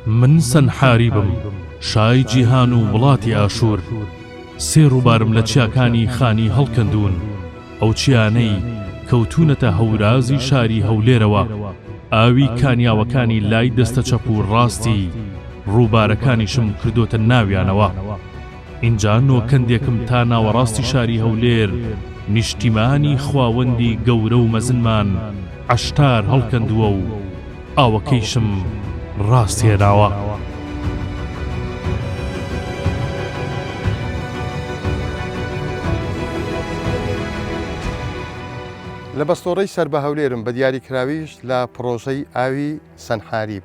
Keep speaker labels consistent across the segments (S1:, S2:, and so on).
S1: من سەنحاریبم، شای جیهان و وڵاتی ئاشوور، سێ ڕووبارم لە چیاکانی خانی هەڵکەندوون، ئەو چیانەی کەوتوونەتە هەورازی شاری هەولێرەوە، ئاوی کانیاوەکانی لای دەستە چەپ و ڕاستی ڕووبارەکانیشم کردۆتە ناویانەوە. ئینجا نۆکەندێکم تا ناوەڕاستی شاری هەولێر نیشتیمانی خواوەندی گەورە و مەزنمان عەشتار هەڵکەندووە و ئاوەکەیشم ڕاست هێناوە.
S2: لە بەستۆڕەی سەر بە هەولێرم بە دیاریکراویش لە پڕۆژەی ئاوی، سەنحاریب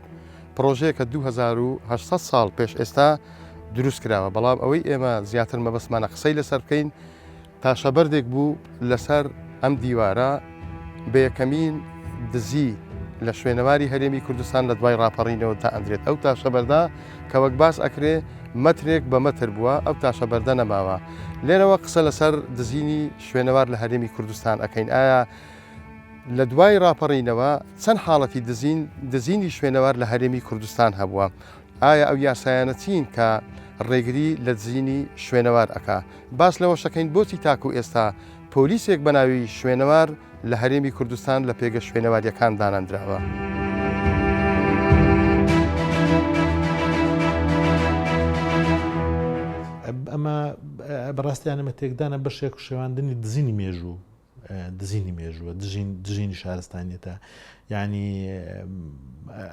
S2: پڕۆژەیەکە دوو هەزار و هەشت سەد ساڵ پێش ئێستا دروست کراوە، بەڵام ئەوەی ئێمە زیاتر مەبەستمانە قسەی لەسەر بکەین تاشەبەردێک بوو لەسەر ئەم دیوارە بە یەکەمین دزی لە شوێنەواری هەرێمی کوردستان لە دوای ڕاپەڕینەوە دائەندرێت ئەو تاشەبەردە کە وەک باس ئەکرێ مەترێک بە مەتر بووە ئەو تاشەبەردە نەماوە لێرەوە قسە لەسەر دزینی شوێنەوار لە هەرێمی کوردستان ئەکەین ئایا لە دوای ڕاپەڕینەوە چەند حاڵەتی دزین، دزینی شوێنەوار لە هەرێمی کوردستان هەبووە، ئایا ئەو یاسایانە چین کە ڕێگری لە دزینی شوێنەوار ئەکا؟ باس لەوەشەکەین بۆچی تاکو ئێستا پۆلیسێک بە ناوی شوێنەوار لە هەرێمی کوردستان لە پێگە شوێنەوارییەکان دانەندراوە؟ ئەمە
S3: بەڕاستیانەمە تێکدانە بەشێک شێواندنی دزینی مێژوو. دزینی مێژووە دژینی شارستانیەتە یعنی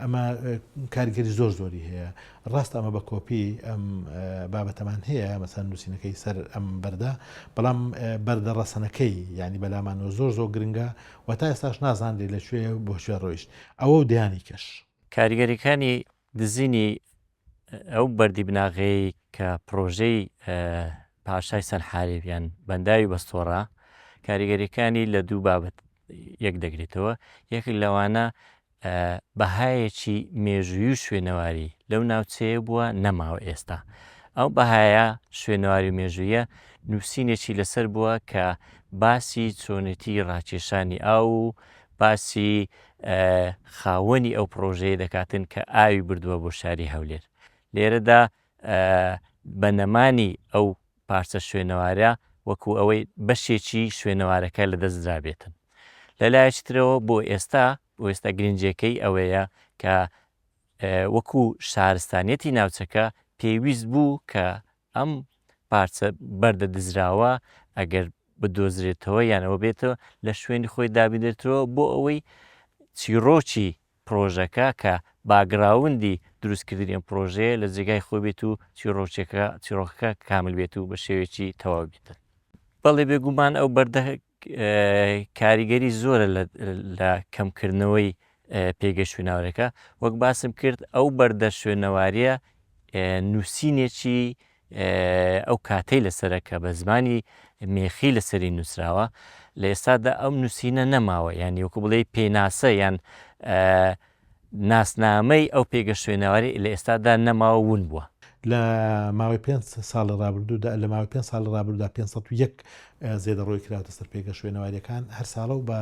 S3: ئەمە کارگەری زۆر زۆری هەیە ڕاست ئەمە بە کۆپی ئەم بابەتەمان هەیە مەسەن نووسینەکەی سەر ئەم بەردە بەڵام بەردە ڕەسەنەکەی ینی بەلامانەوە زۆر زۆر گرنگە و تا ئێستاش نازانری لەکوێ بۆ شوێ ڕۆیشت ئەوە و دیانی کەش کاریگەریەکانی
S4: دزینی ئەو بەردی بناغەیەی کە پڕۆژەی پاشای سەنحاریب یان بەنداوی بەستۆڕە کاریگەریەکانی لە دوو بابەت یەک دەگرێتەوە یەکێک لەوانە بەهایەکی مێژووی و شوێنەواری لەو ناوچەیە بووە نەماوە ئێستا ئەو بەهایە شوێنەواری و مێژوویە نووسینێکی لەسەر بووە کە باسی چۆنێتی ڕاکێشانی ئاو و باسی خاوەنی ئەو پڕۆژەیە دەکاتن کە ئاوی بردووە بۆ شاری هەولێر لێرەدا بە نەمانی ئەو پارچە شوێنەوارە وەکو ئەوەی بەشێکی شوێنەوارەکە لە دەستدرابێتن لەلایەکی ترەوە بۆ ئێستا بۆ ئێستا گرنجەکەی ئەوەیە کە وەکو شارستانیەتی ناوچەکە پێویست بوو کە ئەم پارچە بەردە دزراوە ئەگەر بدۆزرێتەوە یان ئەوە بێتەوە لە شوێنی خۆی دابنرێتەوە بۆ ئەوەی چیڕۆکی پرۆژەکە کە باگراوندی دروستکردنی ئەم پرۆژەیە لە جێگای خۆی بێت و چیڕۆچێکە چیڕۆکەکە کامل بێت و بە شێوێکی تەواو بێتن بەڵێ بێگومان ئەو بەردە کاریگەری زۆرە لە کەمکردنەوەی پێگەی شوێناوەرەکە وەک باسم کرد ئەو بەردە شوێنەواریە نووسینێکی ئەو کاتەی لەسرە کە بە زمانی مێخی لەسەری نووسراوە لە ئێستادا ئەم نووسینە نەماوە یان یوکو بڵێ پێناسە یان ناسنامەی ئەو پێگە شوێنەواری لە ئێستادا نەماوە و ون بووە. لە
S3: ماوەی پێنج ساڵی ڕابردوودا لە ماوەی پێنج ساڵی ڕابردوودا پێنج سەد و یەک زێدەڕۆی کراوەتە سەر پێگە شوێنەواریەکان هەر ساڵە و بە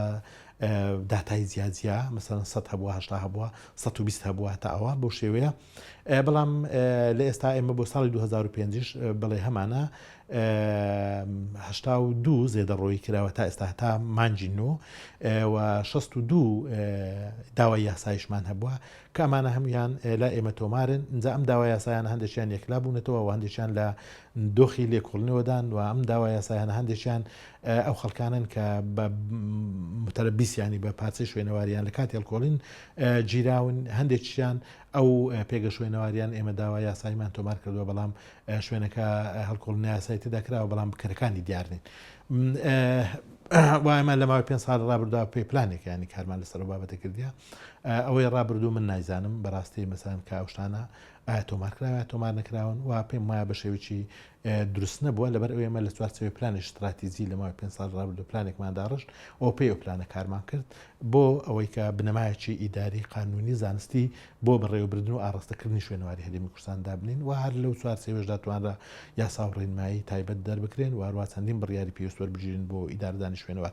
S3: داتای جیاجیا مەسەرەن سە هەبووە هەشتا هەبووە سە و بیست هەبووە تا ئەوە بۆ شێوەیە بەڵام لە ئێستا ئێمە بۆ ساڵی 2005ش بڵێ هەمانە هشتا و دوو زێدەڕۆی کراوە تا ئێستا تا مانجی نۆ و شست و دوو داوای یاسایشمان هەبووە کە ئەمانە هەمویان لا ئێمە تۆمارن جا ئەم داوا یاسایان هەندێکیان یەکلا بوونەتەوە و هەندێکیان لە دۆخی لێکۆڵنەوەدان و ئەم داوا یاسایان هەندێکیان ئەو خەڵکانن کە بە متەرە بیسیانی بە پارچەی شوێنەواریان لە کاتی هەڵکۆڵین گیراون هەندێکیان ئەو پێگە شوێنەواریان ئێمە داوا یاساییمان تۆمار کردووە، بەڵام شوێنەکە هەڵکۆڵی نایاسایی تێدا کراوە، بەڵام بکەرەکانی دیار نین. و ئێمە لە ماوەی پێنج ساڵی ڕابردوودا پێی پلانێک یانی کارمان لەسەر ئەو بابەتە کردیە. ئەوەی ڕابردوو من نایزانم بەڕاستی مەسەلەن کە ئەو شتانە ئایا تۆمار کراوە یا تۆمار نەکراون و پێم وایە بە شێوەیەکی دروست نەبووە، لەبەر ئەوەی ئێمە لە چوارچێوەی پلانی شتراتیجی لە ماوەی پێنج ساڵی ڕابردوو پلانێکمان داڕشت و پێی ئەو پلانە کارمان کرد بۆ ئەوەی کە بنەمایەکی ئیداری قانونی زانستی بۆ بەڕێوەبردن و ئاڕاستەکردنی شوێنەواری هەرێمی کوردستان دابنین و هەر لەو چوارچێوەشدا توانرا یاسا و ڕێنمایی تایبەت دەربکرێن و هەروە چەندین بڕیاری پێویست وەربگیرێن بۆ ئیدارەدانی شوێنەوار